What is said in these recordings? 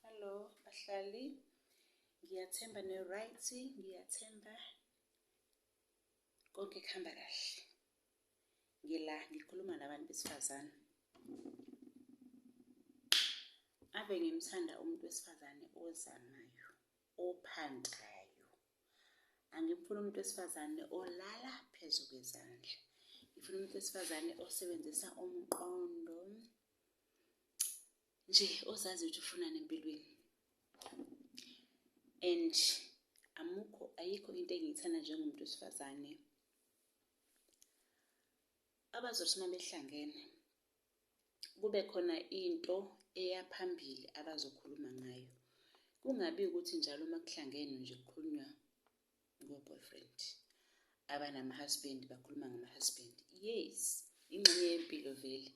Hello bahlali. Ngiyathemba ne right, ngiyathemba konke kuhamba kahle. Ngila ngikhuluma nabantu besifazane. Ave ngimthanda umuntu wesifazane ozamayo, ophantayo. Angimfuni umuntu wesifazane olala phezu kwezandla. Ngifuna umuntu wesifazane osebenzisa umqondo. nje ozazi ukuthi ufunani empilweni and amukho ayikho into engiyithanda njengomuntu wesifazane abazothi uma behlangene kube khona into eya phambili abazokhuluma ngayo kungabi ukuthi njalo uma kuhlangenwe nje kukhulunywa ngo boyfriend abanama husband bakhuluma ngama husband yes ingxenye yempilo vele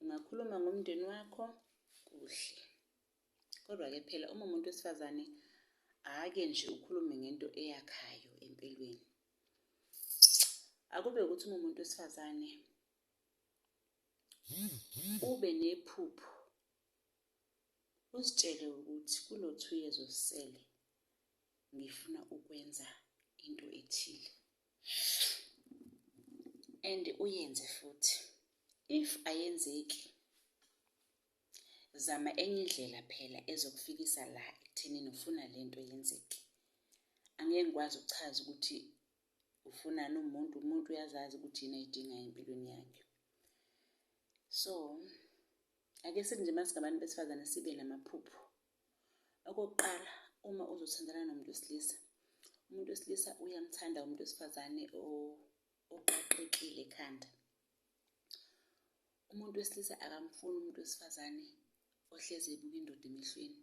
ungakhuluma ngomndeni wakho kuhle kodwa ke phela uma umuntu wesifazane ake nje ukhulume ngento eyakhayo empilweni akube ukuthi uma umuntu wesifazane ube nephupho Uzitshele ukuthi kulo two years osele ngifuna ukwenza into ethile and uyenze futhi if ayenzeki zama enye indlela phela ezokufikisa la ekuthenini ufuna le nto yenzeke angeke ngikwazi ukuchaza ukuthi ufunani umuntu umuntu uyazazi ukuthi yini ayidingayo empilweni yakhe so Ake sithi nje masingabantu besifazane sibe namaphupho. Okokuqala uma uzothandana nomuntu wesilisa, umuntu wesilisa uyamthanda umuntu wesifazane oqaqekile ekhanda. Umuntu wesilisa akamfuni umuntu wesifazane ohlezi ebuka indoda emehlweni.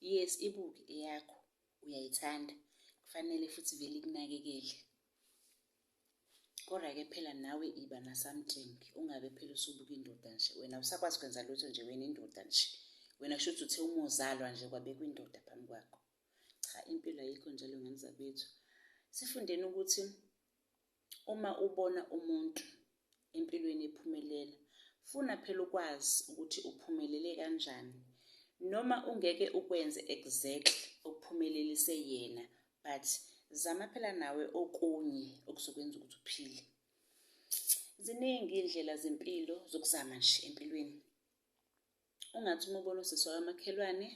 Yes ibuke eyakho uyayithanda kufanele futhi vele ikunakekele. Kodwa ke phela nawe iba na something ungabe phela usubuka indoda nje wena usakwazi kwenza lutho nje wena indoda nje. Wena shuthi uthe uma uzalwa nje kwabekwa indoda phambi kwakho. Cha impilo ayikho njalo ngane zakwethu. Sifundeni ukuthi Uma ubona umuntu empilweni ephumelela, funa phela ukwazi ukuthi uphumelele kanjani. Noma ungeke ukwenze exactly okuphumelelise yena, but zama phela nawe okunye okuzokwenza ukuthi uphile. Ziningi iy'ndlela zempilo zokuzama nje empilweni. Ungathi uma ubona usisi wakamakhelwane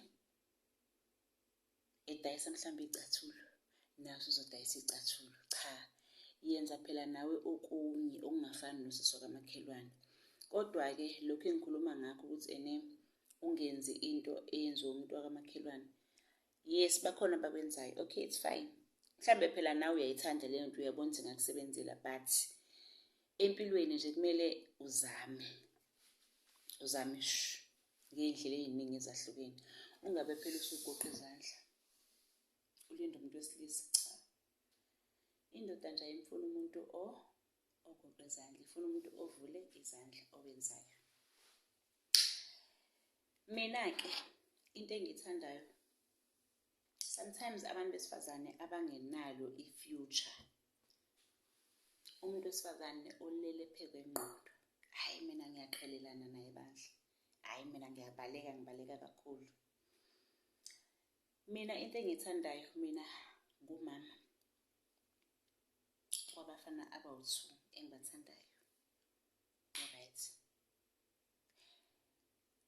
edayisa mhlawumbe icathulo naso uzodayisa icathulo cha yenza phela nawe okunye okungafani nosisi wakamakhelwane kodwa-ke lokhu engikhuluma ngakho ukuthi ene ungenzi into eyenziwe umuntu wakamakhelwane yes bakhona bakwenzayo okay it's fine mhlawumbe phela nawe uyayithanda leyo nto uyabona ukuthi ngakusebenzela but empilweni nje kumele uzame uzame shu ngey'ndlela ey'ningi ezahlukeni ungabe phela usugoqa izandla ulinde umuntu wesilisa cha indoda nje ayimfuni umuntu o ogoqa izandla ifuna umuntu ovule izandla owenzayo mina-ke into engiyithandayo sometimes abantu besifazane abangenalo i-future umuntu wesifazane olele phe kwengqondo hhayi mina ngiyaqhelelana naye bandla hhayi mina ngiyabaleka ngibaleka kakhulu mina into engiyithandayo mina ngumama wabafana abawu-two engibathandayo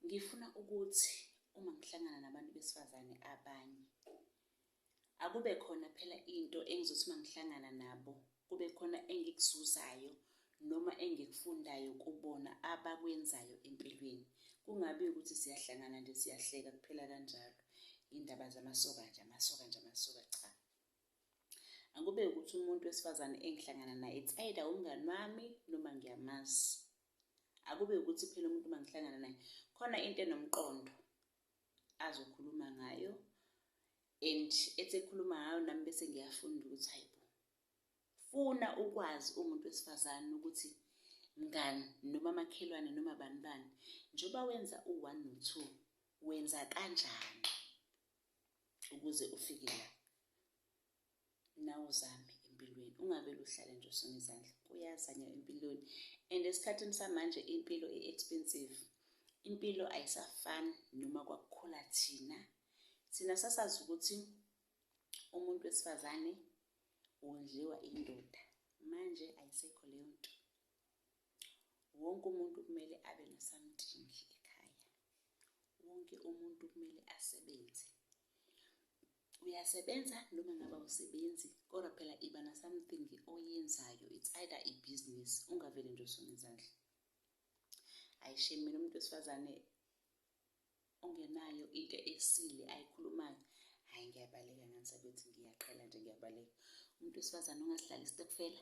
Ngifuna ukuthi uma ngihlangana nabantu besifazane abanye akube khona phela into engizothi uma ngihlangana nabo kube khona engikuzuzayo noma engikufundayo kubona abakwenzayo empilweni kungabi ukuthi siyahlangana nje siyahleka kuphela kanjalo indaba zamasoka nje amasoka nje amasoka cha angikube ukuthi umuntu wesifazane engihlangana naye it's either umngani wami noma ngiyamazi akube ukuthi phela umuntu uma ngihlangana naye khona into enomqondo azokhuluma ngayo and ethi ekhuluma ngayo nami bese ngiyafunda ukuthi hayi bo funa ukwazi umuntu wesifazane ukuthi mngani noma makhelwane noma bani bani njengoba wenza u-1 no-2 wenza kanjani ukuze ufike la nawe uzame empilweni ungabe luhlale nje usona izandla kuyazanywa empilweni and esikhathini samanje impilo i-expensive impilo ayisafani noma kwakukhula thina thina sasazi ukuthi umuntu wesifazane wondliwa indoda manje ayisekho leyo nto wonke umuntu kumele abe nosamdingi ekhaya wonke umuntu kumele asebenze uyasebenza noma ngabe awusebenzi kodwa phela iba na something oyenzayo it's either a business ungavele nje usone izandla ayishemi mina umuntu wesifazane ongenayo into esile ayikhulumayo hayi ngiyabaleka nganisa ukuthi ngiyaqhela nje ngiyabaleka umuntu wesifazane ongasidlali istokfela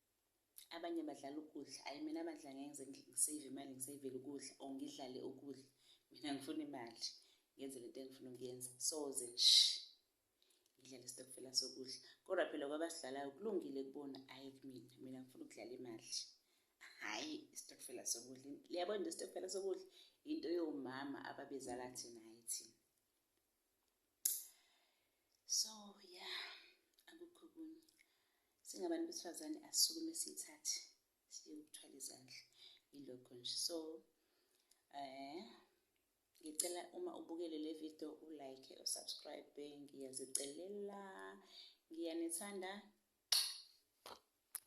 abanye badlala ukudla ayi mina bandla ngeke ngize ngisave imali ngisavele ukudla or ngidlale ukudla mina ngifuna imali ngenze lento engifuna ukuyenza soze nsh ngidlale isitokfela sokudla kodwa phela kwabasidlalayo kulungile kubona ayi kumina mina ngifuna ukudlala imali hhayi isitokfela sokudla liyabona isitokfela sokudla into yomama ababezala thina hhayi thina so ya akukho kunye singabantu besifazane asisukume siyithathe siye ukuthwala izandla ilokho nje so um ngicela uma ubukele le video ulike usubscribe ngiyazicelela ngiyanithanda